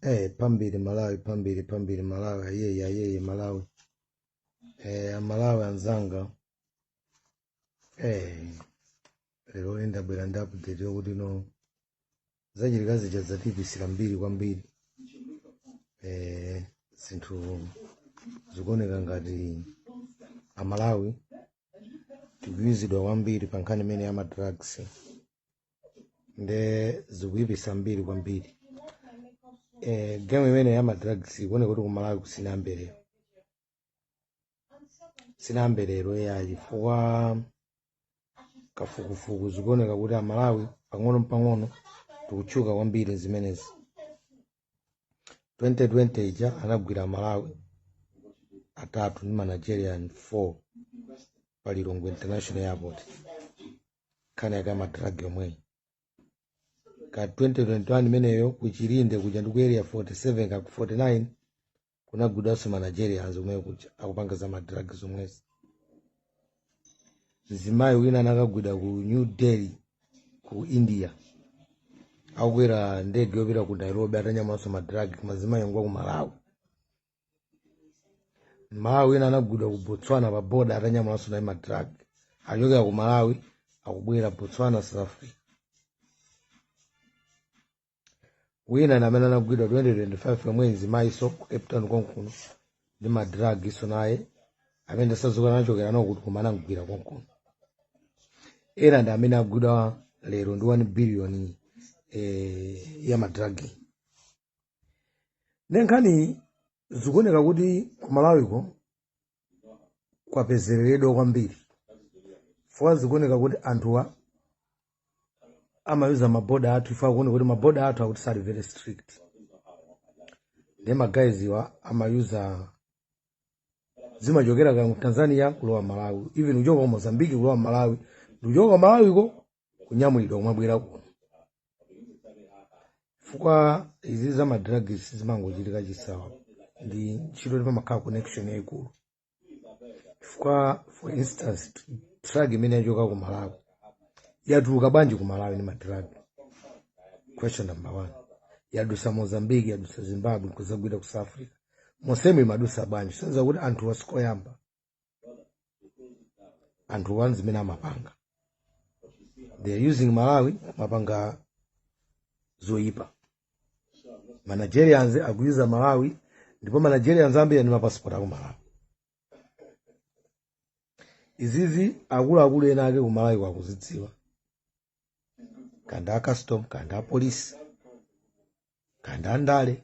Eh, pambiri Malawi, pambiri pambiri Malawi, ayeye ayeye Malawi. Eh, Amalawi anzanga. Eh, lero ndabwera ndi update yokuti no zachitika zija zatiyipisira mbiri kwambiri. Eh, zinthu zikuoneka ngati Amalawi tikuyuzidwa kwambiri pa nkhani imene ya madrugs. nde zikuyipisa mbiri kwambiri eh, game imene ya madrugs ikuoneka kuti kumalawiku sinayambe lero sinayambe lero yayi chifukwa kafukufuku zikuoneka kuti amalawi pang'ono mpang'ono tikutchuka kwambiri zimenezi 2020 ija anagwira amalawi atatu ndi manigerian 4 pa lilongwe international airport nkhani yake ya madragi yomweyi ka 2021 imeneyo ku chilinde kuja ndi ku area 47 ka ku 49 kunagwidwanso ma nigerians omweyo kuja akupanga za madragi zomwezi mzimayi wina anakagwidwa ku new delhi ku india akukwera ndege yopita ku nairobi atanyamulanso madragi mzimayi ngwa ku malawi mmalawi wina anagwidwa ku botswana pa boda atanyamulanso naye madrag achokera ku malawi akubwera botswana south africa wina ndi amene anagwidwa 2025 yomwe mzimayiso ku cape town konkuno ndi madragiso naye amene sadziwika anachokera nawo kuti koma anamgwira konkuno ena ndi amene agwidwa lero ndi 1 billion eh, ya madragi nde nkhani zikuoneka kuti ku malawiko kwapezereredwa kwambiri chifukwa zikuoneka kuti anthuwa amayuza maboda athu chifukwa akuoneka kuti maboda athu akuti sali very strict nde magayiziwa amayuza zimachokera ku tanzania kulowa malawi even kuchoka ku mozambiki kulowa malawi ndikuchoka ku malawiko kunyamulidwa kumabwera kuno chifukwa izi za madrugs sizimangochitika chisawawa ndi ntchito ndi pamakhala connection yayikulu chifukwa for instance drug imene yachoka ku malawi yatuluka bwanji ku malawi ndi madrug question number one yadusa mozambique yadusa zimbabwe kuzagwira ku south africa monsemo imadusa bwanji kusonyeza kuti anthuwa sikoyamba anthu one zimene amapanga they are using malawi amapanga zoyipa manigerians akuyuza malawi ndipo manigerians ambiri ali ndi mapasipoti aku malawi izizi akuluakulu ena ake ku malawi akuzidziwa kanda a custom kanda a polisi kanda a ndale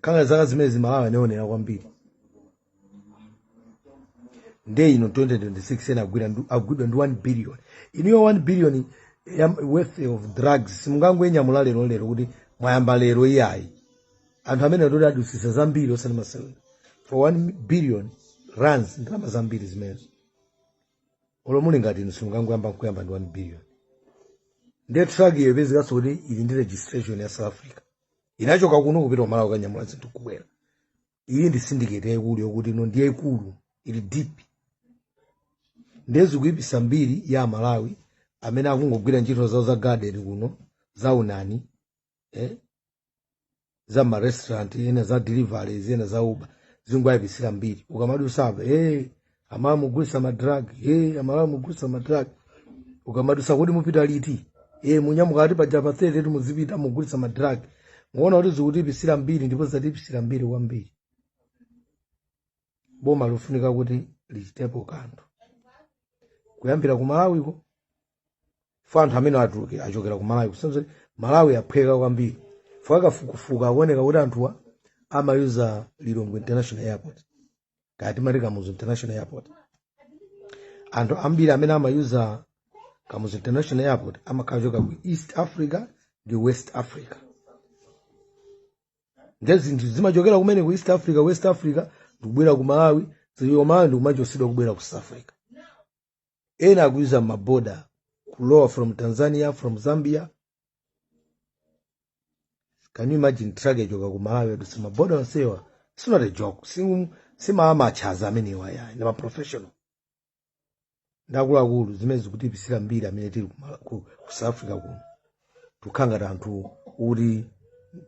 kanga zaka zimenezi malawi yaonekera kwambiri nde ino 2026 ena agwidwa ndi 1 billion inuyo 1 billion ya worth of drugs simungangoinyamula lero lero kuti mwayamba lero iyayi anthu amenewa ndi oti adusisa zambiri osati masewera for 1 billion rands ndalama zambiri zimenezo olo muli ngati inu simungangoyamba nkuyamba ndi 1 billion ndiye truck iyo ipezekanso kuti ili ndi registration ya south africa inachoka kuno kupita kumalawi kukanyamula zinthu kubwera iyi ndi syndicate yaikulu yokuti ino ndi yaikulu ili deep ndiye zikuipisa mbiri ya amalawi amene akungogwira nchito zawo za garden kuno za unani za ma restaurant ena za delivery ena za uber zingwayipitsira mbiri ukamadusapo hey, amalawi mugulisa ma drug hey, amalawi mugulisa ma drug ukamadusa kuti mupita liti hey, munyamuka ati paja pa 30 ti muzipita mugulisa ma drug muona kuti zikutiipisira mbiri ndipo zatiipisira mbiri kwambiri boma likufunika kuti lichitepo kanthu kuyambira ku malawiko chifa anthu amene akatuluka achokera ku malawi kusonyeza malawi yaphweka kwambiri chifa kafukufuku akuoneka kuti anthuwa amayuza lilongwe international airport kaya timati kamuzu international airport anthu ambiri amene amayuza kamuzu international airport amakhala achokera ku east africa ndi west africa nde zinthu zimachokera kumene ku east africa west africa ndikubwera ku malawi via malawi ndikumachosedwa kubwera ku south africa ena akuyuza maboda kulowa from tanzania from zambia can you imagine truck yachoka ku malawi yadutsa maboda onsewa it's not a joke si maamachaza amenewa ayi ndi maprofessional ndi akuluakulu zimene zikutiipisira mbiri amene tili ku south africa kuno tikukhala ngati anthu oti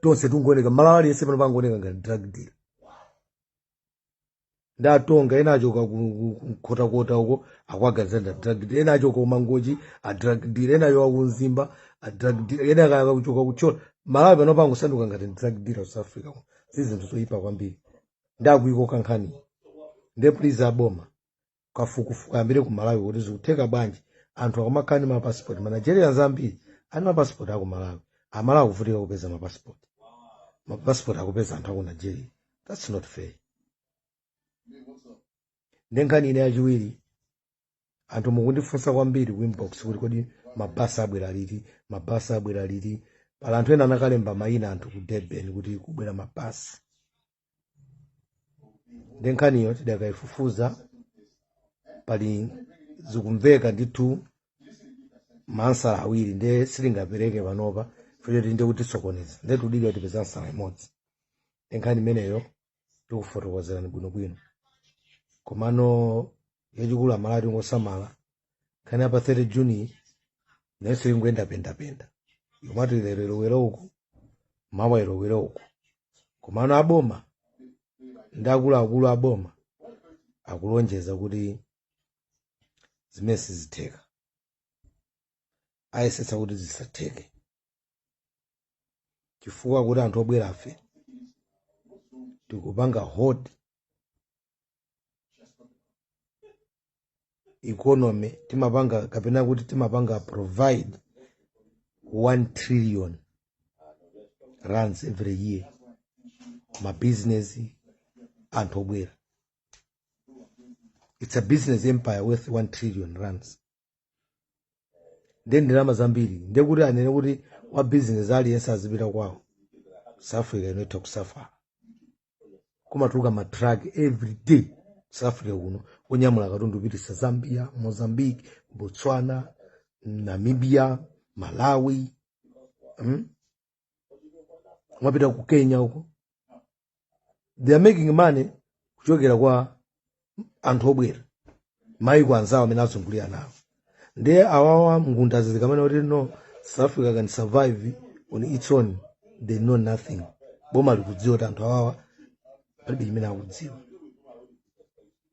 tonse tingooneka mmalawi aliyense panopa angooneka ngati drug dealer ndi atonga ena achoka kunkhotakota uko akuwaganiza ndi a drug dealer ena achoka kumangochi a drug dealer ena achoka kumzimba a drug dealer ena kaya achoka kuthyolo amalawi panopa angosanduka ngati drug dealer ku south africa kuno. si zinthu zoyipa kwambiri ndakuyikoni kankhani nde please aboma kafukufuku ayambire ku malawi kuti zikutheka bwanji anthu akamakhala ndi mapasipoti manigerians ambiri ali ndi mapasipoti aku malawi amalawi akuvutika kupeza mapasipoti mapasipoti akupeza anthu aku nigeria thats not fair nde nkhani ina yachiwiri anthu mukundifunsa kwambiri ku inbox kuti kodi mabasi abwera liti mabasi abwera liti pali anthu ena anakalemba mayina anthu ku durban kuti kubwera mabasi nde nkhaniyo tidakayifufuza pali zikumveka ndithu maansala awiri nde sindingapereke panopa futi tinde kukusokonezani nde tidikire tipeze ansala imodzi nde nkhani imeneyo tikufotokozerani bwinobwino komano yachikulu amalawi tingosamala nkhani ya pa 30 juni nayonso ingoyendapendapenda yomati lero ilowere uku mawa ilowere uku komano aboma ndi akuluakulu aboma akulonjeza kuti zimenezi sizitheka ayesetsa kuti zisatheke chifukwa kuti anthu obwerafe tikupanga hold economy timapanga kapena kuti timapanga provide 1 trillion rands every year mabusiness anthu obwera it's a business empire worth 1 trillion rands nde ndalama zambiri ndiye kuti anene kuti wa bizinesi aliyense azipita kwawo south africa ino itha kusafala kumatuluka matraki every day south africa kuno kunyamula katundu kupititsa zambia mozambique botswana namibia malawi mm? kumapita ku kenya uko they are making money kuchokera kwa anthu obwera maiko anzawo amene azungulira nawo ndiye awawa angundazi akamanena kuti no south africa can survive on its own they know nothing boma likudziwa kuti anthu awawa palibe chimene akudziwa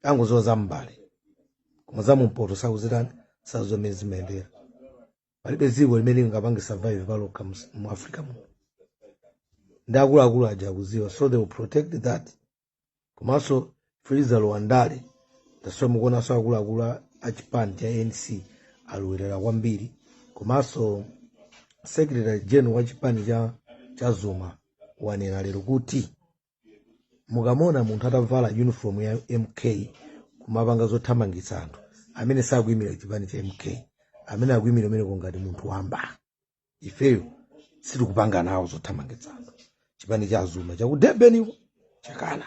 angodziwa za m'mbale koma za mumpoto sakuzitani zammene zimayendera palibe dziko limene lingapange survive palokha mus- mu africa muno ndi akuluakulu aja akuziwa so they will protect that komanso freezer lowandale ndizomwe mukuonanso akuluakulu a- a chipani cha anc alowerera kwambiri komanso secretary general wa chipani cha cha zuma wanena lero kuti mukamona munthu atavala uniform ya mk akumapanga zothamangitsa anthu ameneyo sakuimira chipani cha mk ameneyo akuimira umeneko ngati munthu wamba ifeyo sitikupanga nawo zothamangitsa anthu chipani cha azuma cha ku durban uko chakana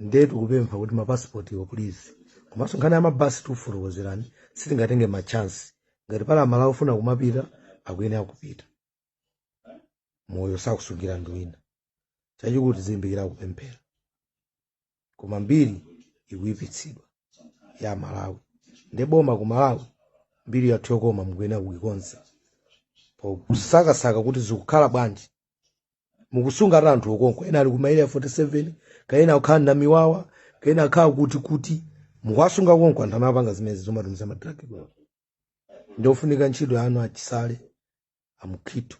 ndiye tikupempha kuti mapasipotiwo please komanso nkhani ya mabasi tikufotokozerani sitingatenge machansi ngati pali amalawi ofuna kumapita akuyenera kupita moyo sakusungira ndi wina chachikulu tizilimbikira kupemphera koma mbiri ikuyipitsidwa ya malawi ndiye boma ku malawi mbiri yathu yokoma mukuyenera kuikonza pokusakasaka kuti zikukhala bwanji mukusunga ati anthu okonko ena ali ku ma Area 47 kaya ena akukhala na miwawa kaya ena akhala kuti kuti mukuwasunga konko anthu amapanga zimenezi zomatumiza madragi bwa ndiyofunika ntchito yanu achisale amukhitu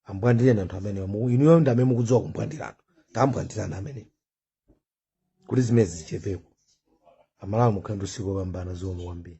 ambwandireni anthu amenewa Mu- inuyo ndi amene mukudziwa kumbwandira anthu tambwandirani amenewa kuti zimenezi zichepeko amalawi mukhale ndi usiku wopambana zikomo kwambiri